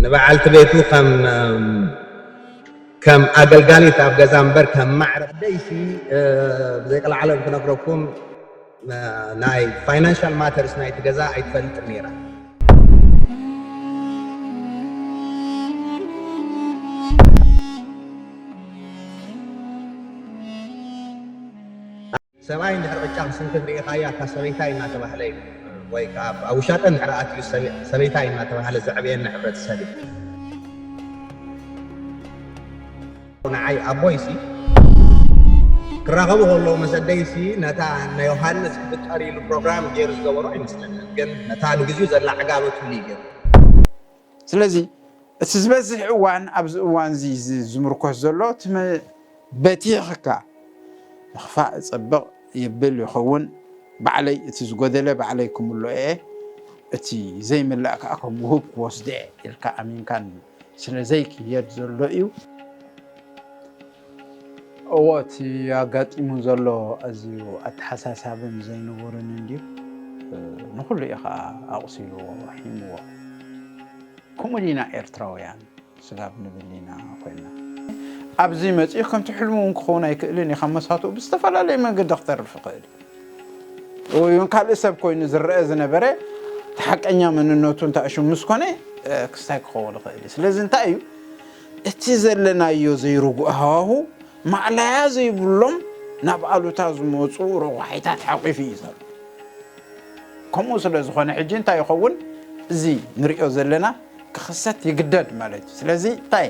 ንበዓልቲ ቤቱ ከም ከም ኣገልጋሊት ኣብ ገዛ እምበር ከም ማዕረ ደይሲ ብዘይቀልዓለም ክነግረኩም ናይ ፋይናንሻል ማተርስ ናይቲ ገዛ ኣይትፈልጥን ነይራ። ሰብኣይ እንድሕር ቅጫ ክስንክት ርኢኻያ እታ ሰበይታይ እናተባህለ እዩ ወይ ከዓ ኣብ ውሻጠ እንድሕር ኣትዩ ሰበይታይ እናተባህለ ዘዕብየና ሕብረተሰብ እዩ። ንዓይ ኣቦይሲ ክራኸቡ ከለዉ ምስ ኣደይሲ ነታ ንዮሃንስ ክፍጠር ኢሉ ፕሮግራም ገይሩ ዝገበሮ ኣይመስለንን ግን ነታ ንግዚኡ ዘላ ዕጋበትሉ እዩ ገይሩ። ስለዚ እቲ ዝበዝሕ እዋን ኣብዚ እዋን እዚ ዝምርኮስ ዘሎ እቲ በቲኽካ ምኽፋእ ጽብቕ የብል ይኸውን ባዕለይ እቲ ዝጎደለ ባዕለይ ክምልኦ እየ እቲ ዘይምላእ ከኣ ከም ውሁብ ክወስዶ እየ ኢልካ ኣሚንካ ስለ ዘይክየድ ዘሎ እዩ። እዎ እቲ ኣጋጢሙ ዘሎ ኣዝዩ ኣተሓሳሳብን ዘይንቡርን እንድዩ። ንኹሉ እዩ ኸኣ ኣቑሲልዎ ሒምዎ። ከምኡ ዲና ኤርትራውያን ስጋብ ንብል ኢና ኮይንና። ኣብዚ መጺኡ ከምቲ ሕልሙ እውን ክኸውን ኣይክእልን እዩ። ካብ መሳቱኡ ብዝተፈላለየ መንገዲ ክተርፍ ይኽእል እዩ። ወይ እውን ካልእ ሰብ ኮይኑ ዝረኣ ዝነበረ እቲ ሓቀኛ መንነቱ እንታይ ሽሙ ምስ ኮነ ክስታይ ክኸውን ይኽእል እዩ። ስለዚ እንታይ እዩ እቲ ዘለናዮ ዘይርጉእ ሃዋሁ ማእለያ ዘይብሎም ናብ ኣሉታ ዝመጹ ረቋሒታት ሓቚፉ እዩ ዘሎ። ከምኡ ስለ ዝኾነ ሕጂ እንታይ ይኸውን እዚ ንሪኦ ዘለና ክኽሰት ይግደድ ማለት እዩ። ስለዚ እንታይ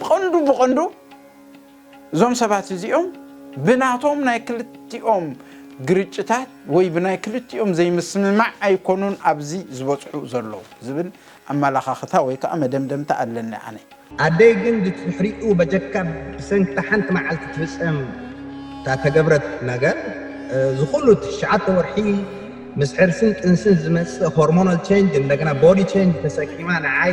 ብቐንዱ ብቐንዱ እዞም ሰባት እዚኦም ብናቶም ናይ ክልቲኦም ግርጭታት ወይ ብናይ ክልቲኦም ዘይምስምማዕ ኣይኮኑን ኣብዚ ዝበጽሑ ዘለዉ ዝብል ኣመላኻኽታ ወይ ከኣ መደምደምታ ኣለኒ ኣነ። ኣደይ ግን ድትድሕሪኡ በጀካ ብሰንኪ እታ ሓንቲ መዓልቲ ትፍጸም እታ ተገብረት ነገር ዝኹሉ እቲ ትሽዓተ ወርሒ ምስ ሕርስን ጥንስን ዝመጽእ ሆርሞናል ቸንጅ እንደገና ቦዲ ቸንጅ ተሰኪማ ንዓይ